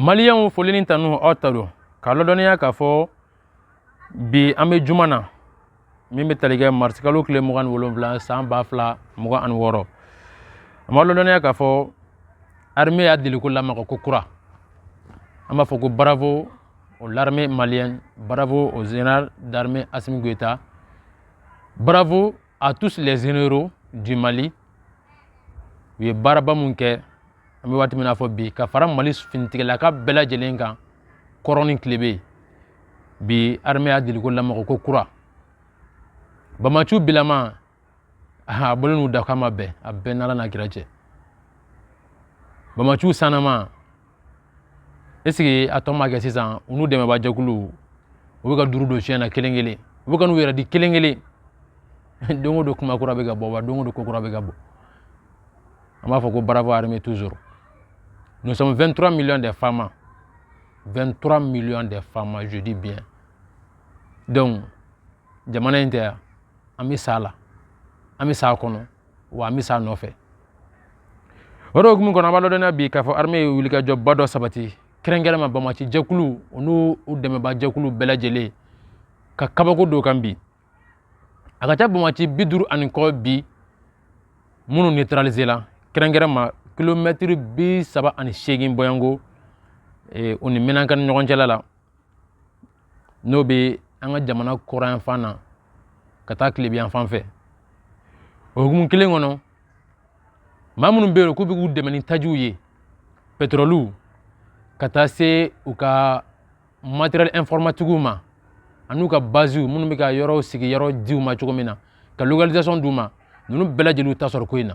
maliyɛnw foli ni tanu aw ta don k'a lɔdɔnniya k'a fɔ bi an bɛ juma na min bɛ tali kɛ marisikalo tile mugan ni wolonwula san ba fila mugan ani wɔɔrɔ an b'a lɔdɔnniya k'a fɔ armée y'a deliko lamaga ko kura an b'a fɔ ko bravo au l'armée malienne bravo au général d'armée assimi goïta bravo à tous les généraux du mali u ye baaraba minnu kɛ an bɛ waati min n'a fɔ bi ka fara mali finitigilaka bɛɛ lajɛlen kan kɔrɔn ni tilebi bi armée y'a deliko lamaga ko kura bamaciw bilama a bɔlen da k'a ma bɛn a bɛn n'ala n'a kira cɛ bamaciw sanama est-ce que a tɔ ma kɛ sisan u n'u dɛmɛba jɛkuluw u bɛ ka duuru don siɲɛ na kelen kelen u bɛ ka n'u yɛrɛ di kelen kelen don o don kuma kura bɛ ka bɔ wa don o don ko kura bɛ ka bɔ an b'a fɔ ko bravo armée toujours nous sommes 23 millions de fama 23 millions de fama je dis bien donc jamana in tɛ yan an bɛ s'a la an bɛ s'a kɔnɔ wa an bɛ s'a nɔfɛ o de hukumu kɔnɔ an b'a ladɔnniya bi k'a fɔ armée ye wulikajɔba dɔ sabati kɛrɛnkɛrɛn ma bamaci jɛkulu u n'u dɛmɛba jɛkulu bɛɛ lajɛlen ka kabako dɔ kan bi a ka ca bamaci bi duuru ani kɔ bi minnu neutraliser la kɛrɛnkɛrɛn ma kilomɛtiri bi saba ani seegin bɔyanko o ni menaka ni ɲɔgɔn cɛla la n'o bɛ an ka jamana kɔrɔnyanfan na ka taa tilebiyanfan fɛ o hukumu kelen kɔnɔ maa minnu bɛ yen k'u bɛ k'u dɛmɛ ni tajiw ye petɔrɔliw ka taa se u ka materiyɛli ɛnfɔrɔmatikiw ma an'u ka baziw minnu bɛ ka yɔrɔw sigiyɔrɔ d'u ma cogo min na ka localisation d'u ma ninnu bɛɛ lajɛlen ta sɔrɔ ko in na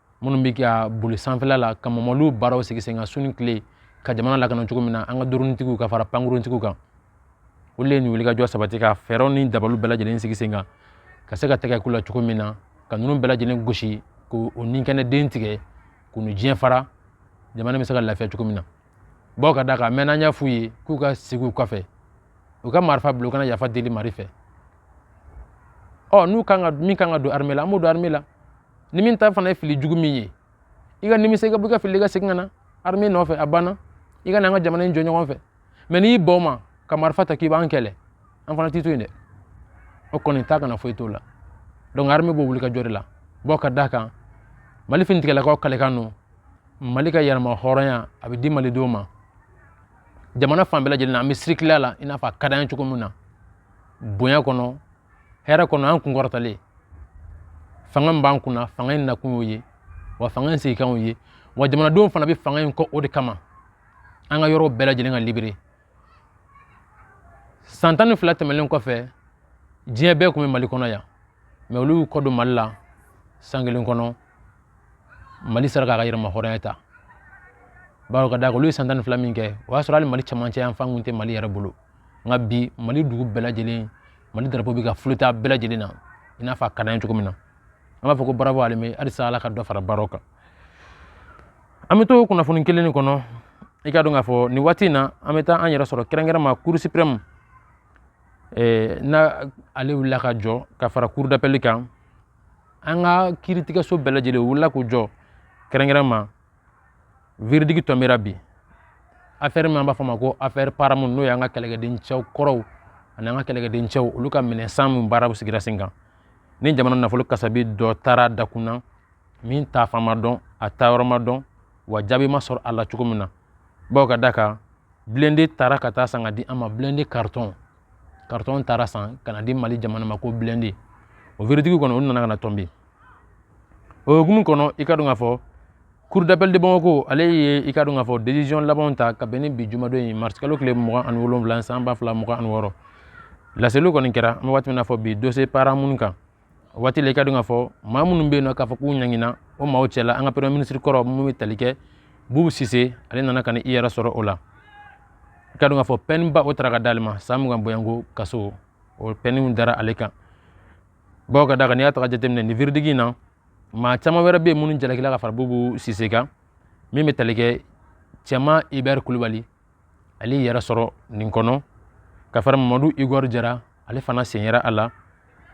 minnu bɛ ka boli sanfɛla la ka mamaliw baaraw sigi sen kan su ni tile ka jamana lakana cogo min na an ka dɔrɔnitigiw ka fara pankuruntigiw kan olu de ye nin wulikajɔ sabati ka fɛɛrɛw ni dabaliw bɛɛ lajɛlen sigi sen kan ka se ka tɛgɛ k'u la cogo min na ka ninnu bɛɛ lajɛlen gosi k'o o ninkɛnɛ den tigɛ k'u ni diɲɛ fara jamana bɛ se ka lafiya cogo min na bawo k'a da kan mɛ n'an y'a f'u ye k'u ka sigi u kɔfɛ u ka marifa bila u ka na yafa deli mali fɛ ɔ n'u kan ka min kan ka don armée la an b'o don armée la ni min ta fana ye fili jugu min ye i ka nimisa i ka bɔ i ka fili ka segin ka na armée nɔfɛ a banna i ka na an ka jamana in jɔ ɲɔgɔn fɛ mais n'i y'i ban o ma ka marifa ta k'i b'an kɛlɛ an fana t'i to yen dɛ o kɔni ta kana foyi t'o la donc armée b'o wuli ka jɔ de la bawo ka d'a kan mali finitigɛlakaw kalekan don mali ka yɛrɛma hɔrɔnya a bɛ di malidenw ma jamana fan bɛɛ lajɛlen na an bɛ circuler la i n'a fɔ a ka d'an ye cogo min na bonya kɔnɔ hɛrɛ kɔnɔ an kun kɔrɔtalen fanga min b'an kunna fanga in nakun y'o ye wa fanga in sigikan y'o ye wa jamanadenw fana bɛ fanga in kɔ o de kama an ka yɔrɔw bɛɛ lajɛlen ka libérer san tan ni fila tɛmɛnen kɔfɛ diɲɛ bɛɛ tun bɛ mali kɔnɔ yan mais olu y'u kɔ don mali la san kelen kɔnɔ mali sera k'a ka yɛrɛma hɔrɔnya ta bawo ka d'a kan olu ye san tan ni fila min kɛ o y'a sɔrɔ hali mali camancɛ yan fan kun tɛ mali yɛrɛ bolo nka bi mali dugu bɛɛ lajɛlen mali darapo bɛ ka flotter a bɛɛ lajɛlen na i n'a fɔ a ka d'an ye cogo min na an b'a fɔ ko bravo armée halisa ala ka dɔ fara baaraw kan an bɛ to kunnafoni kelen nin kɔnɔ i ka dɔn k'a fɔ nin waati in na an bɛ taa an yɛrɛ sɔrɔ kɛrɛnkɛrɛnma cour suprême eh, na ale wulila ka jɔ ka fara cour d'appel kan an ka kiiritigɛso bɛɛ lajɛlen wulila k'u jɔ kɛrɛnkɛrɛnma verdict tombera bi affaire min an b'a fɔ ma ko affaire paramount n'o y'an ka kɛlɛkɛden cɛw kɔrɔw ani an ka kɛlɛkɛden cɛw olu ka minɛn san min baaraw sigira sen kan ni jamana nafolo kasabi dɔ taara dakun na min taafan ma dɔn a taayɔrɔ ma dɔn wa jaabi ma sɔrɔ a la cogo min na bawo ka d'a kan blindé taara ka taa san ka di an ma blindé carton carton taara san ka na di mali jamana ma ko blindé o verdict kɔni olu nana ka na tomber o hukumu kɔnɔ i ka dɔn k'a fɔ cour d'appel de bamako ale ye i ka dɔn k'a fɔ décision labanw ta ka bɛn ni bi jumadon in mars kalo tile mugan ani wolonwula san ba fila mugan ani wɔɔrɔ laseliw kɔni kɛra an bɛ waati min na fɔ bi dossier paramount kan o waati la i ka dɔn k'a fɔ maa minnu bɛ yen nɔ k'a fɔ k'u ɲangina o maaw cɛla an ka premier ministre kɔrɔ min bɛ tali kɛ bubu sise ale nana ka na i yɛrɛ sɔrɔ o la i ka dɔn k'a fɔ peine ba o tara ka d'ale ma san mugan boyanko kaso o peine dara ale kan bawo ka d'a kan n'i y'a taga jateminɛ nin verdict in na maa caman wɛrɛ bɛ yen minnu jalakila ka fara bubu sise kan min bɛ tali kɛ cɛman ibɛri kulubali ale y'i yɛrɛ sɔrɔ nin kɔnɔ ka fara mamadu igɔri jara ale fana sen yera a la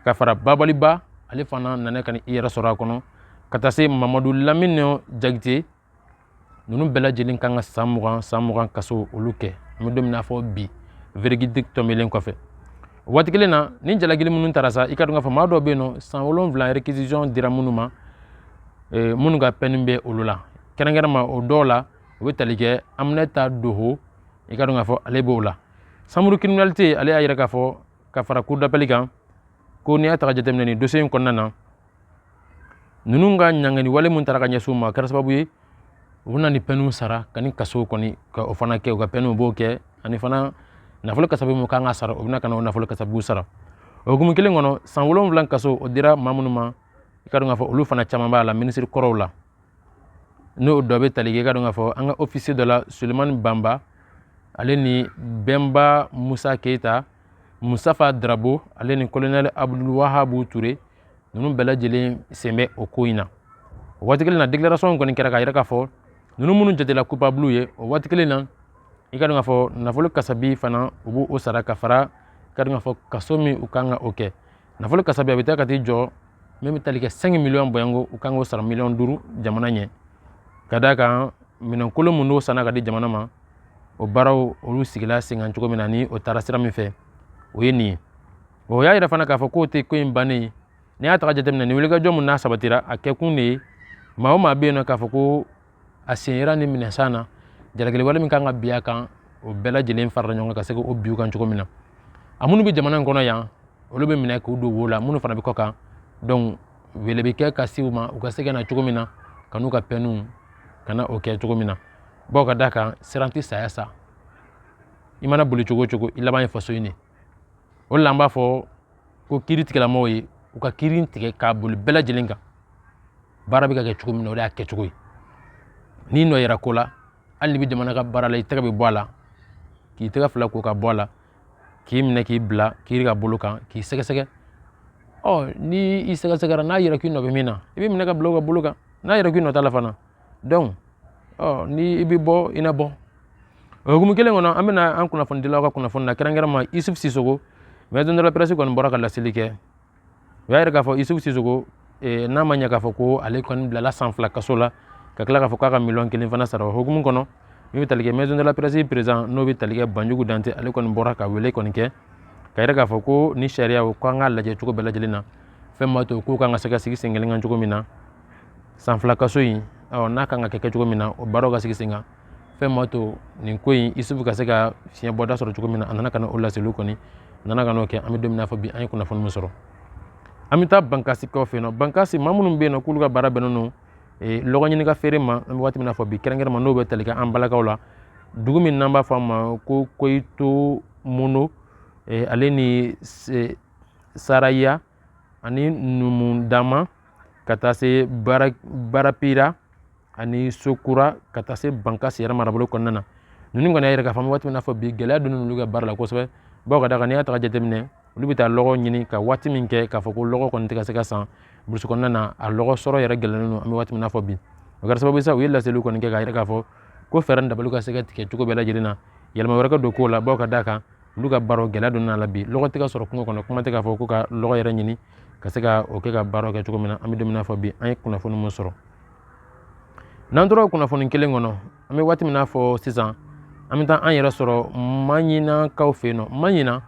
ka fara babali ba ale fana nana ka na i yɛrɛ sɔrɔ a kɔnɔ ka taa se mamadu lamini jagite ninnu bɛɛ lajɛlen kan ka san mugan san mugan kaso olu kɛ an bɛ don min na fɔ bi verdict tombelen kɔfɛ waati kelen na ni jalakili minnu taara sa i ka dɔn k'a fɔ maa dɔw bɛ yen nɔ san wolonwula réquisition dira minnu ma eh, minnu ka peine bɛ olu la kɛrɛnkɛrɛnma o dɔw la u bɛ tali kɛ aminata doho i ka dɔn k'a fɔ ale b'o la chambre criminalité ale y'a yɛrɛ k'a fɔ ka fara cour d'appel kan ko n'i y'a ta ka jateminɛ nin dosiye in kɔnɔna na ninnu ka ɲangani wale mun taara ka ɲɛsin u ma a kɛra sababu ye u bɛna ni pɛniw sara ka ni kaso kɔni ka o fana kɛ u ka pɛniw b'o kɛ ani fana nafolo kasabi mun kan ka sara u bɛna ka na o nafolo kasabiw sara o hukumu kelen kɔnɔ san wolonwula kaso o dira maa minnu ma i ka dɔn k'a fɔ olu fana caman b'a la minisiri kɔrɔw la n'o dɔ bɛ tali kɛ i ka dɔn k'a fɔ an ka ofisiye dɔ la sulemani banba ale ni bɛnba musa keyita musitafa darabo ale ni kolonɛli abudulu wahabu ture ninnu bɛɛ lajɛlen sen bɛ o ko in na o waati kelen na déclaration kɔni kɛra k'a yira k'a fɔ ninnu minnu jatela coupable ye o waati kelen na i ka dɔn k'a fɔ nafolo kasabi fana u b'o sara ka fara i ka dɔn k'a fɔ kaso min u kan ka o kɛ nafolo kasabi a bɛ taa ka t'i jɔ min bɛ tali kɛ cinq millions bɔyanko u kan k'o sara miliyɔn duuru jamana ɲɛ ka d'a kan minɛnkolo mun n'o sanna ka di jamana ma o baaraw olu sigila sen kan cogo min na ni o taara sira min fɛ o ye nin ye o y'a yira fana k'a fɔ k'o tɛ ko in bannen ye n'i y'a ta ka jateminɛ nin wulikajɔ mun n'a sabatira a kɛkun de ye maa o maa bɛ yen nɔ k'a fɔ ko a sen yera nin minɛn san na jalakili wale min kan ka bin a kan o bɛɛ lajɛlen farala ɲɔgɔn kan ka se k'o bin u kan cogo min na a minnu bɛ jamana in kɔnɔ yan olu bɛ minɛ k'u don wo la minnu fana bɛ kɔ kan donc wele bɛ kɛ ka se u ma u ka se ka na cogo min na ka n'u ka pɛniw ka na o kɛ cogo min na bawo ka d'a kan siran tɛ saya sa i mana boli cogo o cogo i laban ye faso in de o de la an b'a fɔ ko kiiritigɛlamɔgɔw ye u ka kiiri tigɛ k'a boli bɛɛ lajɛlen kan baara bɛ ka kɛ cogo min na o de y'a kɛcogo ye n'i nɔ yera ko la hali n'i bɛ jamana ka baara la i tɛgɛ bɛ bɔ a la k'i tɛgɛ fila ko ka bɔ a la k'i minɛ k'i bila kiiri ka bolo kan k'i sɛgɛsɛgɛ ɔ ni i sɛgɛsɛgɛra n'a yera k'i nɔ bɛ min na i bɛ minɛ ka bila o ka bolo kan n'a yera k'i nɔ t'a la fana donc ɔ ni i bɛ bɔ i na bɔ o hukumu kelen kɔnɔ an bɛna an kunnafonidilaw ka kunnafoni na kɛrɛnkɛrɛnma isufu sisoko maison de la presse kɔni bɔra ka laseli kɛ u y'a yira k'a fɔ isufu sisoko eh, n'a ma ɲɛ k'a fɔ ko ale kɔni bilala san fila kaso la ka tila k'a fɔ k'a ka miliyɔn kelen fana sara o hukumu kɔnɔ min bɛ tali kɛ maison de la presse président n'o bɛ tali kɛ banjugu dante ale kɔni bɔra ka wele kɔni kɛ k'a yira k'a fɔ ko ni sariya o k'an k'a lajɛ cogo bɛɛ lajɛlen na fɛn b'a to k'u kan ka se ka sigi sen kelen kan cogo min na san fila kaso in n'a kan ka kɛ cogo min na o baaraw ka sigi sen kan fɛn b'a to nin ko in isufu ka se ka fiɲɛ bɔda sɔrɔ cogo min na a nana ka na o laseliw kɔni a nana ka n'o kɛ an bɛ don min na fɔ bi an ye kunnafoni min sɔrɔ an bɛ taa bankasikaw fɛ yen nɔ bankasi maa minnu bɛ yen nɔ k'olu ka baara bɛnnen don eh, lɔgɔ ɲini ka feere ma an bɛ waati min na fɔ bi kɛrɛnkɛrɛnma n'o bɛ tali kɛ an balakaw la dugu min n'an b'a fɔ a ma ko koyito mono eh, ale ni eh, saraya ani numu dama ka taa se barapira ani sokura ka taa se bankasi yɛrɛ marabolo kɔnɔna na ninnu kɔni y'a yira k'a fɔ an bɛ waati min na fɔ bi gɛlɛya donna olu ka baara la kosɛbɛ bawo ka d'a kan n'i y'a ta jateminɛ olu bɛ taa lɔgɔ ɲini ka waati min kɛ k'a fɔ ko lɔgɔ kɔni tɛ ka se ka san burusi kɔnɔna na a lɔgɔ sɔrɔ yɛrɛ gɛlɛnnen don an bɛ waati min na fɔ bi o kɛra sababu ye sa u ye laseliw kɔni kɛ k'a yira k'a fɔ ko fɛɛrɛ dabaliw ka se ka tigɛ cogo bɛɛ lajɛlen na yɛlɛma wɛrɛ ka don kow la bawo ka d'a kan olu ka baaraw gɛlɛya donna a la bi lɔgɔ tɛ ka sɔrɔ kungo kɔnɔ kuma tɛ k'a fɔ ko ka lɔgɔ yɛrɛ ɲini ka se ka o kɛ ka baaraw kɛ cogo min na an bɛ don min na fɔ bi an ye kunnafoni min sɔrɔ n'an tora kunnafoni kelen kɔnɔ an bɛ waati min na fɔ sisan an bɛ taa an yɛrɛ sɔrɔ maɲinakaw fɛ yen nɔ maɲina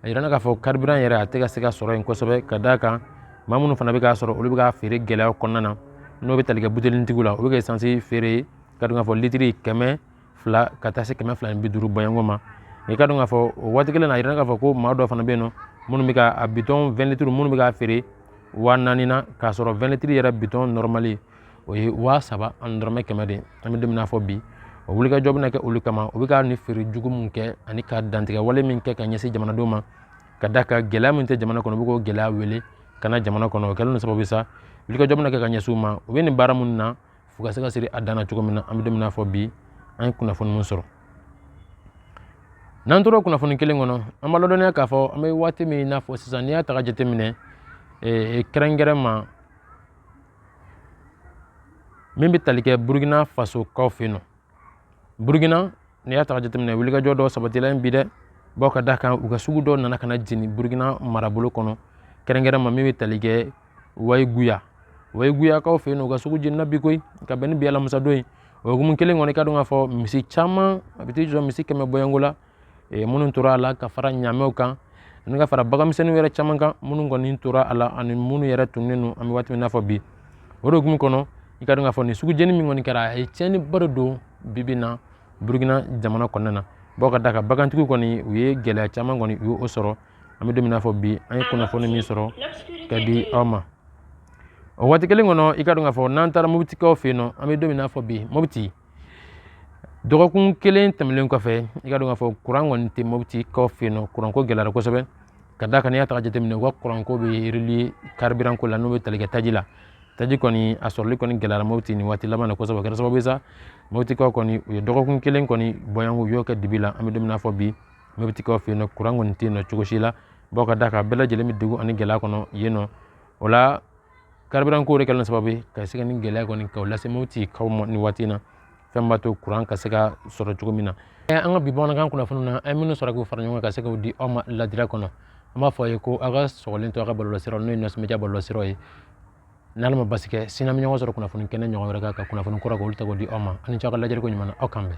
a yira na k'a fɔ karibiran yɛrɛ a tɛ ka se ka sɔrɔ yen kosɛbɛ ka d'a kan maa minnu fana bɛ k'a sɔrɔ olu bɛ k'a feere gɛlɛya kɔnɔna na n'o bɛ tali kɛ butelitigiw la o bɛ k'esansi feere i ka dɔn k'a fɔ litiri kɛmɛ fila ka taa se kɛmɛ fila ni bi duuru bɔɲɔgɔn ma i ka dɔn k'a fɔ o waati kelen na a yira na k'a fɔ ko maa dɔw fana bɛ yen nɔ minnu bɛ ka a bitɔn wɛn litiri minnu bɛ k'a feere waa naani na k'a sɔrɔ wɛn litiri yɛrɛ bitɔn nɔrɔmali o ye waa saba ani dɔrɔmɛ kɛmɛ de an bɛ don min na fɔ bi o wulikajɔ bɛna kɛ olu kama u bɛ ka nin feere jugu min kɛ ani ka dantɛmɛ wale min kɛ ka ɲɛsin jamanadenw ma ka d'a kan gɛlɛya min tɛ jamana kɔnɔ u bɛ k'o gɛlɛya wele ka na jamana kɔnɔ o kɛlen don sababu sa wulikajɔ bɛna kɛ ka ɲɛsin u ma u bɛ nin baara minnu na fo ka se ka siri a dan na cogo min na an bɛ don min na fɔ bi an ye kunnafoni min sɔrɔ n'an tora kunnafoni kelen kɔnɔ an b'a ladɔnniya k'a fɔ an bɛ waati min n'a fɔ sisan n'i y'a ta ka jateminɛ kɛrɛnkɛrɛnma min bɛ tali kɛ burukina faso kaw fɛ yen nɔ burukina n'i y'a ta jateminɛ wulikajɔ dɔ sabatila yen bi dɛ bawo ka d'a kan u ka sugu dɔ nana ka na jeni burukina marabolo kɔnɔ kɛrɛnkɛrɛnma min bɛ tali kɛ wayiguya wayiguyakaw fɛ yen nɔ u ka sugu jenina bi koyi ka bɛn ni bi alamusadon ye o hukumu kelen kɔnɔ i ka dɔn k'a fɔ misi caman a bɛ t'i jɔ misi kɛmɛ bɔɲɔngo la minnu tora a la ka fara ɲamɛw kan ani ka fara baganmisɛnninw yɛrɛ caman kan minnu kɔni tora a la ani minnu yɛrɛ tununnen don an bɛ waati min n'a fɔ bi o de hukumu kɔnɔ i ka dɔn k'a fɔ nin sugu jeni min kɔni kɛra a ye tiɲɛniba de don bi bi in na burukina jamana kɔnɔna na bawo ka d'a kan bagantigiw kɔni u ye gɛlɛya caman kɔni u y'o sɔrɔ an bɛ don min n'a fɔ bi an ye kunnafoni min sɔrɔ ka di aw ma o waati kelen kɔnɔ i ka dɔn k'a fɔ n'an taara mobitikaw fɛ yen nɔ an bɛ don min n'a fɔ bi mobiti dɔgɔkun kelen tɛmɛnen kɔfɛ i ka dɔn k'a fɔ kuran kɔni tɛ mobitikaw fɛ yen nɔ kuranko gɛlɛyara kosɛbɛ ka d'a kan n'i y'a ta jateminɛ u ka kuranko bɛ reliye karibiran ko la n'o bɛ tali kɛ taji la taji kɔni a sɔrɔli kɔni gɛlɛyara mobiti nin waati laban na kosɛbɛ o kɛra sababu ye sa mobitikaw kɔni u ye dɔgɔkun kelen kɔni bɔɲɔngo u y'o kɛ dibi la an bɛ don min na fɔ bi mobitikaw fɛ yen nɔ kuran kɔni tɛ yen nɔ cogo si la bawo ka d'a kan bɛɛ lajɛlen bɛ degun ani gɛlɛya kɔnɔ yen nɔ o la kariburan ko de kɛlen sababu ye ka se ka nin gɛlɛya kɔni ka lase motikaw ma nin waati na fɛn b'a to kuran ka se ka sɔrɔ cogo min na an ka bi bamanankan kunnafoni na an ye minnu sɔrɔ k'u fara ɲɔgɔn kan ka se k'u di aw ma ladira kɔnɔ an b'a fɔ a ye ko aw ka sɔgɔlen to an ka bɔlɔlɔsiraw n'o ye nasɔnmɛdiya bɔlɔlɔsiraw ye n'ala ma basi kɛ sini an bɛ ɲɔgɔn sɔrɔ kunnafoni kɛnɛ ɲɔgɔn wɛrɛ kan ka kunnafoni kura k'olu ta k'o di aw ma aw ni ce aw ka lajɛliko ɲuman na aw k'an bɛn